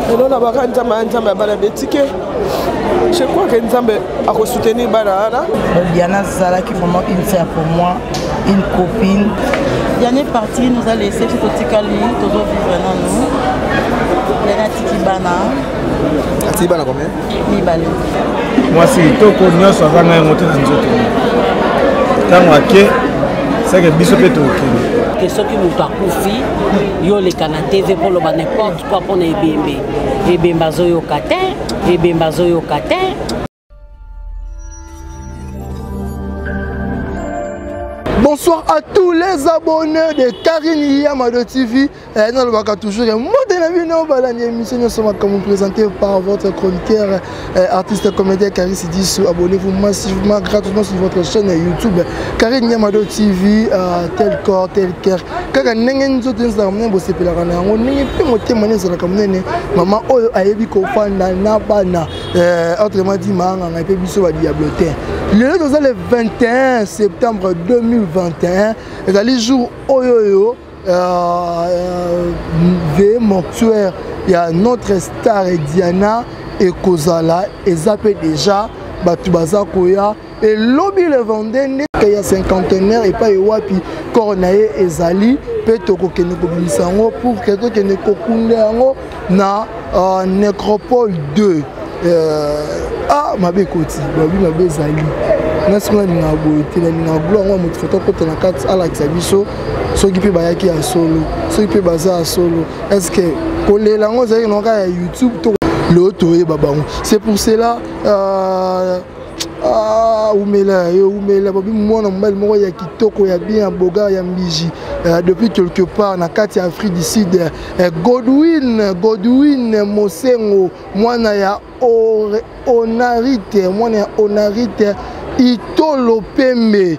lelo na baka nzambe ya nzambe ya bana betike je crois que nzambe akosoutenir bana wana biana azalaki vraiment une sœur pour moi une copine diane parti nous a laissé ti totikali tozovivre nanu diane atiki bana atiki bana combien mibale mwasi kitoko nyonso azanga yango te na nzoto ntango ake seke biso mpe tokende ke soki moto akufi yo oleka na tv mpo oloba nimporte koi mpo na ebembe ebembe azoyoka te ebembe azoyoka te Bonsoir à tous les abonnés de Karine Yamado TV. Eh, nalobaka toujours eh, mode na bino balandi émission nyonso makambo présenté par votre chroniqueur eh, artiste comédien carisi disu abonnez-vous massivement gratuitement sur votre chaîne youtube carine nyamado tv euh, tel corps tel cœur kaka ndenge nzoto ezalaka monene bosepelaka na yango ndenge mpe motema ne ezalaka monene mama oyo ayebi kofanda na bana autrement dit maanganga mpe biso badiable te lelo toza le 21 septembre 2021 ezali jour oyo oyo euh, veye mortuaire ya notre star diana ekozala eza mpe deja bato baza koya elobi le vendeur nde ya cinquantenaire epai wapi corps na ye ezali mpe tokokende kobimisa yango pour ke tokende kokunda yango na uh, necropole 2 uh, euh, ah mabe ekoti babi mabe ezali nasi nga nalingaka boye te nalingaka blo yango ya moto foto akota na kati alakisa biso soki mpe bayaki ya solo soki mpe baza ya solo estce kolela yango ezalaki na kaka ya youtube to lelo toyeba bango c'est pour cela uh, Ah, umela yo umela bobi mwana mobali moko ya kitoko ya bien ya bogar ya mbiji euh, depuis quelque part na kati ya afrique du sud euh, godwin godwin mosengo mwana ya onarite mwana ya onarite itolo pembe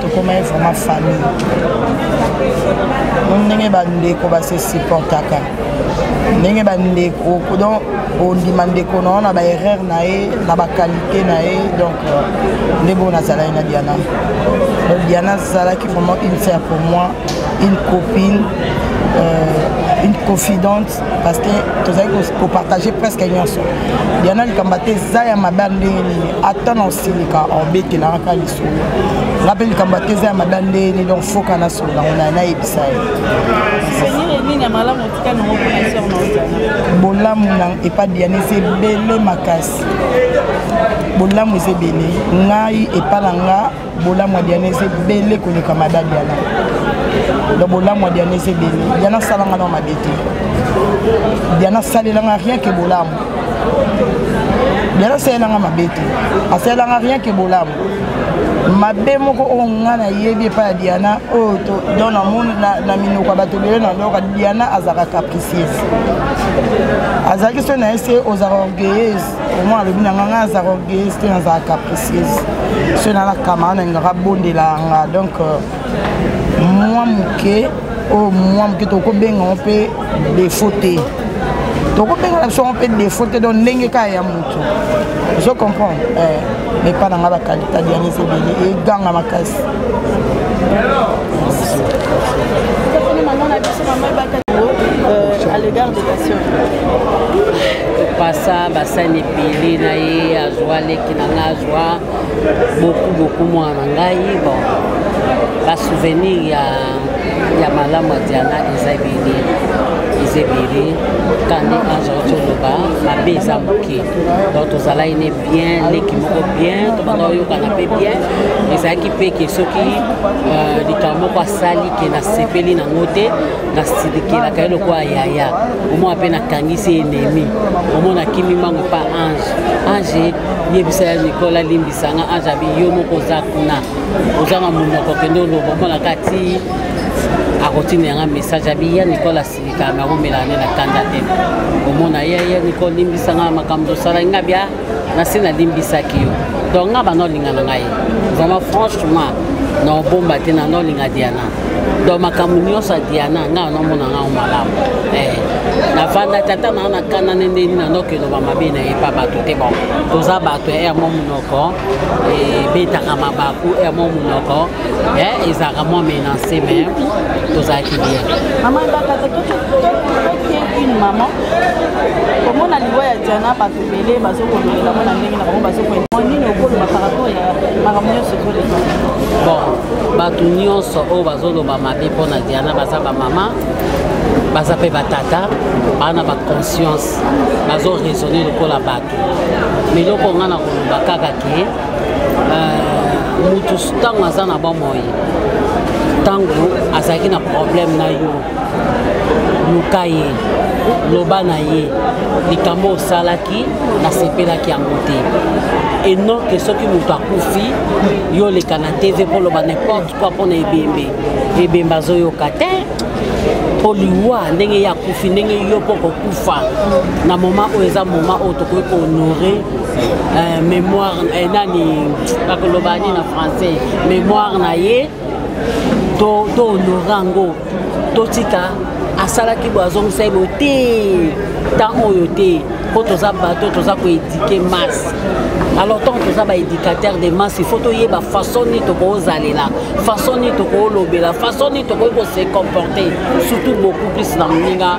tokomaki vraiment famille mo ndenge bandeko base supportaka ndenge bandeko donc ondima ndeko na yo na baerreur na ye na bakalite na ye donc euh, nde bongo nazalaki na diana donc diana azalaki vraiment une sœur pour moi une copine euh, une confidente parce que tozali kopartage presque nyonso diana likambo ate eza ya mabe ndenge nini ata na osilika obetelaka nga mpe likambo ateza ya mada ndeni donc foka na solo nango na nayebisa ye bolamu na epa diane eza ebele makasi bolamu eza ebele ngai epa na nga bolamu ya diane eza ebele koleka mada diana donc bolamu ya diana eza ebele diana asalanga na mabe te diana asalelanga rien ke bolamu bela asalelanga mabe te asalelanga rien ke bolamu mabe moko oyo nga nayebi epai ya diana oyo don namoni na minoko ya bato ebele na loka diana azalaka capricieuse azalaki soki na ye se ozalaka orgueilleuse omoi alobi na nga nga azalaka orgueilleuse te nazalaka capricieuse soki nalakama na ingaka abondelanga donc euh, mwa moke oyo oh, mwa moke tokobenga yango mpe defo te tokobenga na biso yango mpe defo te donc ndenge kaka ya moto ozo comprendre eh, epa na ngai bakalita dianise ebele eganga makasi euh, à l'égard de la sœur pasa basani ebele na ye azwa leki na nga azwa beaucoup beaucoup mwana na ngai bon basouvenir ya, ya malamu ya diana eza ebele eza ebele kani ange toloba mabe eza moke donc tozalaki ne bien leki moko bien tobanda oyokana mpe bien ezalaki mpe ke soki euh, likambo moko asali ke nasepeli nango te nasilikelaka ye lokola yaya omona mpe nakangisi enemi omona kimi mbango epa ange ange yebisa ya nicole alimbisa nga ange abi yo moko oza kuna oza na monoko kende oloba omona kati akotina yanga message abi ya nicole asilika me akomela ne na kanda te omona ye ya nicole limbisa nga makambo tosala nga bia nasi nalimbisaki yo donc nga bana olinga na ngai vraiment franchement na obomba te na nolinga diana donc makambo nyonso ya diana ngai nomona ngango malamu eh, navanda tata naa na kanda nde ndeni nandoki eloba mabe na ye pa bato te bon toza bato ya mo monoko ebetaka eh, mabaku ya mo monoko eh, ezalaka mwa menance me tozalaki bien maman bakata toke une maman komona liwa ya diana bato ebele bazokolobela mpo na ndenge na bango bazokolobela nini okoloba par rapport ya makambo nyonso ezoleka bon bato nyonso oyo bazoloba mabe mpo na diana baza bamama baza mpe batata baa na baconscience bazo raisonne lokola bato miloko ngai na koloba kaka ke euh, motu ntango aza na bomoi ntango azalaki na problème na yo luka ye loba na ye likambo osalaki nasepelaki yango te et non ke soki moto akufi yo oleka na tv mpo oloba n'importe quoi mpo na ebembe ebembe azoyoka te mpo liwa ndenge ye akufi ndenge yo mpo kokufa na moma oyo eza moma oyo tokoki kohonore euh, mémoire eh, nani bakoloba nini na français mémoire na ye to to honore yango totika asalaki boye azongisa ye boye te ntango oyo te mpo toza bato toza koedike masse alors ntango toza baédicateur de masse il faut toyeba façon nini tokozalela façon nini tokolobela façon nini tokoki kose comporter surtout beaucoup plus na moninga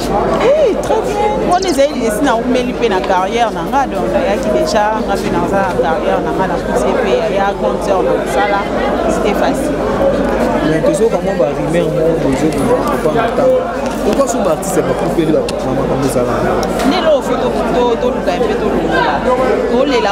Hey, très bien. mpona ezali lesi naumeli mpe na carrière na nga donc nayaki déjà nga mpe naza na carrière na nga nakuti mpe ya grande sœur na kosala c'était facile mais tozoyoka mwa barumeur moko bozokoa na ntango pourkoi so baartiste ya bakupeli bamakambo ezalaka nde loo fo toluka mpe tolongola tolela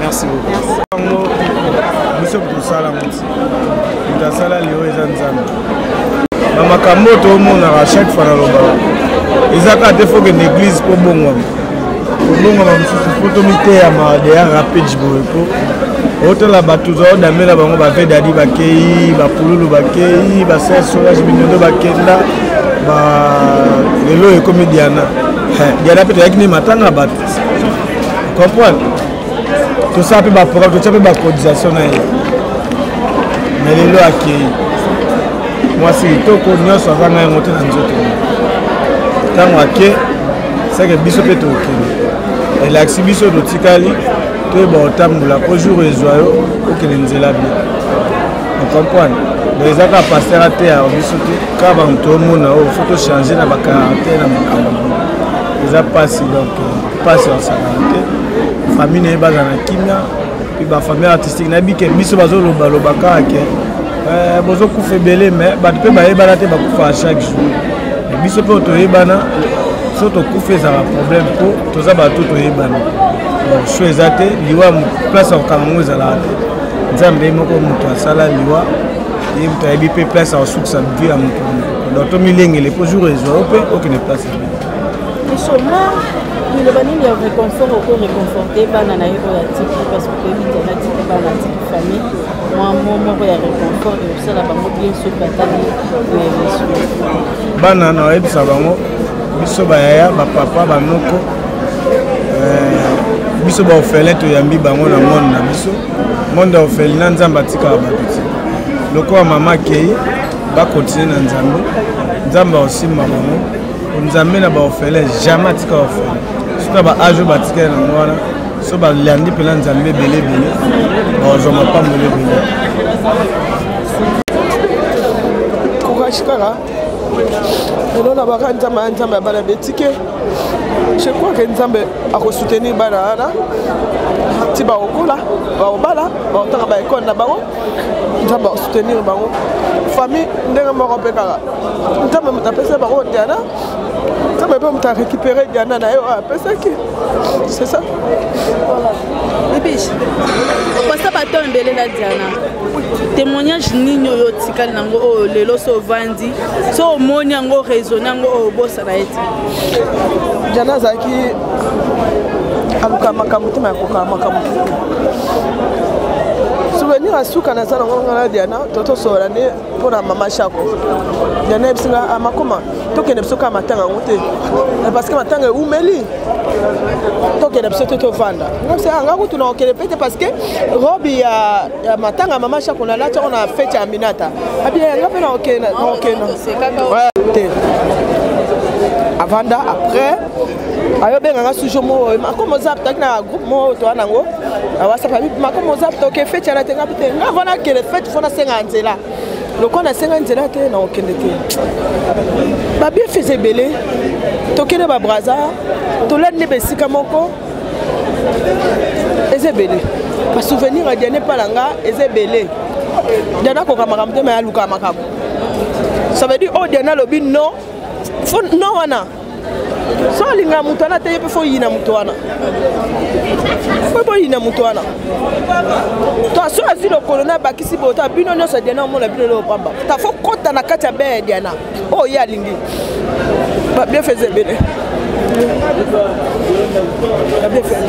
Merci beaucoup. biso tosala mutu moto asala lelo eza nzambe na makambo oyo tomonaka chaque fois nalobaka eza kaka te fokende église mpo bongwama kolongama mosusu mpo tomiteyama deya rapide boye mpo otala bato zao damela bango bavedadi bakei bapululu bakei basensolage minondo bakenda lelo ekomi diana diana mpe toyaki nde matanga bato comprendre tosala mpe baprogramme totya mpe bacotisation na ye me lelo akei mwasi kitoko nyonso azanga yango te na nzoto ntango ake seke biso mpe tokende elakisi biso totikali toyeba otambola mpo jour ezwa yo okende nzela bie ocomprendre donc eza kaka paster ateya biso te kaka bango tomona oyo fo tochange na bakarante na makambo eza mpasi donc mpasi basakana te famille na ye bazala na kimia mpe bafamille artistique nayebi ke biso bazolobaloba kaka ke Euh, bozokufa ebele mais bato mpe bayebana te bakufaka chaque jour biso mpe toyebana so tokufa ezalaka problème mpo toza bato toyebana so eza te liwa place ya kokanga yango ezalaka te nzambe ye moko moto asala liwa ye moto ayebi mpe place ya kosukisa vie ya moto donc tomilengele mpo jour ezwa yo mpe okende place ebe liloba nini ya réconfort oko réconforte bana na ye oyo atiki parce que oyebi te natiki bana atiki famille mwa mo moko ya reconfort ekosala bango bien soki batali emission bana na oyebisa bango biso bayaya bapapa banoko eh, biso baofele toyambi bango na monde na biso monde ya ofele na nzambe atikaka bato te lokola mama akei bakontinue na nzambe nzambe aosimba bango nzambe na baofele jamais atika ofele soki na baage oyo batikali nango wana so balandi mpena nzambe ebele ebele bazwa mapamboli ebele courage kaka lelo na baka nzambe ya nzambe ya bana betike je crois ke nzambe akosoutenir bana wana ti bakokola bakobala bakotanga baekole na bango nzambe akosoutenir bango famille ndenge moko mpe kaka nzambe moto apesa bango oteana bebe moto arécupéré diana na ye oyo apesaki c'est ça bibish opasa baton ebele na diana témoignage nini oyo otikali nango oyo lelo so ovandi so omoni yango raisonne yango oyo obosana ye te diana azalaki aluka makambo te mayakokaa makambo souvenir ya suka naza nango ngana diana totosola nde mpo na mama shako diana yebisi nga ah, makoma tokende biso kaka matanga yango te eh, parce que matanga eumeli tokende biso te tovanda ah, nga kutu na kokende mpe te parce que robi ya, ya matanga mama shako nalati yango na fete ya aminata abia yanga mpe na kokenda te avanda après ayo benga nga sujo mo makomo zap taki na groupe mo to ana ngo awasa pa makomo zap to ke fete na tenga bite nga vona ke le fete fona senga nzela lokola nasenga nzela te na okende te babiefese ebele tokende babraza tolandi nde besika moko eza ebele basouvenir ya diane mpala nga eza ebele diana akoka makambo te ma ya luka makambo ça veut dire oyo oh, diana alobi non fo non wana so olinga moto wana te ye mpe fo oyina moto wana mpe boyina moto wana to so azwi lokolo na abakisi boye ta bino nyonso ya diana omona bino leo pamba ta fo kota na kati ya bee ya diana oyo oh, ye alingi babien feza ebele babien feza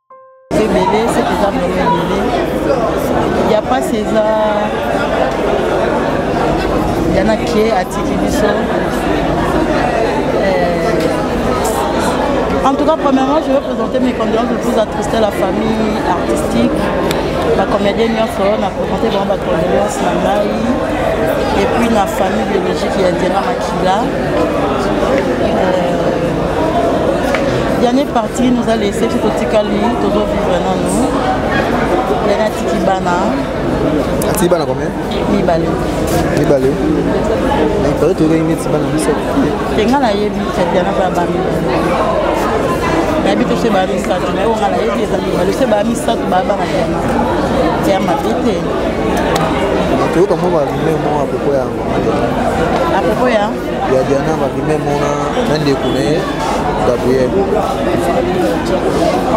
ebele sete eza mama ebele ya mpasi eza yana kie atiki biso En tout cas, premièrement, je vais présenter mes condoléances le plus attristées à la famille artistique. La comédienne Nyonso, on a présenté vraiment ma condoléance à Maï. Et puis, la famille biologique, il y a Dira Là, euh, dernière partie nous a laissé tout au tikali tozo vivre na nous lena tiki bana atiki bana combien mibale mibale mais pare toyokaki neti bana misato te nga nayebi tatiana bana ba mibale nayebi to se baa misato naye onga nayebi eza mibale se baa misato baa bana diana ya mabe te toyoka mwa balume mwa apropos yango apropos ya ya diana mabime mona na ndeko na ye gabriel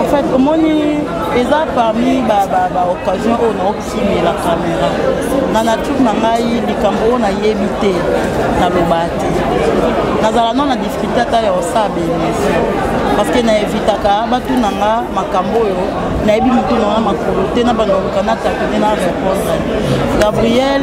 en fait omoni eza parmi baoccasion oyo naokimela camera na nature na ngai likambo oyo nayebi te naloba te nazala no na difficulté ata ya osala bemission parce que na evitaka batuna nga makambo oyo nayebi motu nanga makolo te na bandoluka na tatone na répondre gabriel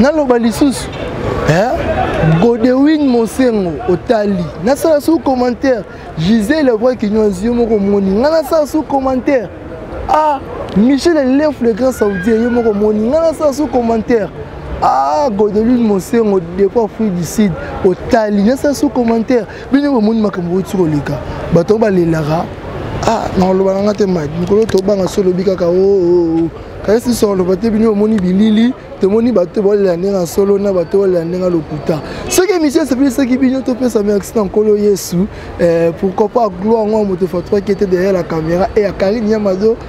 naloba lisusu eh? godewin mosengo otali nasala sous commentaire gisele vrai kinyozi yo moko omoni ngai nasala sous commentaire ah michel elef le grand saudien yo moko omoni ngai nasala sous commentaire ah godewin mosengo depuis afrique du sud otali nasala sous commentaire bino bamoni makambo outi koleka bato yango balelaka ah nakoloba na nga te mike mikolo tobanga so olobi kaka oo oh, oh, oh. kasi so oloba te bino omoni bilili tomoni bato te baolela ndenge ya solo na bato baolela ndenge ya lokuta soki émission esepelisaki bino topesa merci na nkolo yesu eh, pourquoi pas gloire yango ya moto fatuaki ete derrière la caméra e ya karine yamado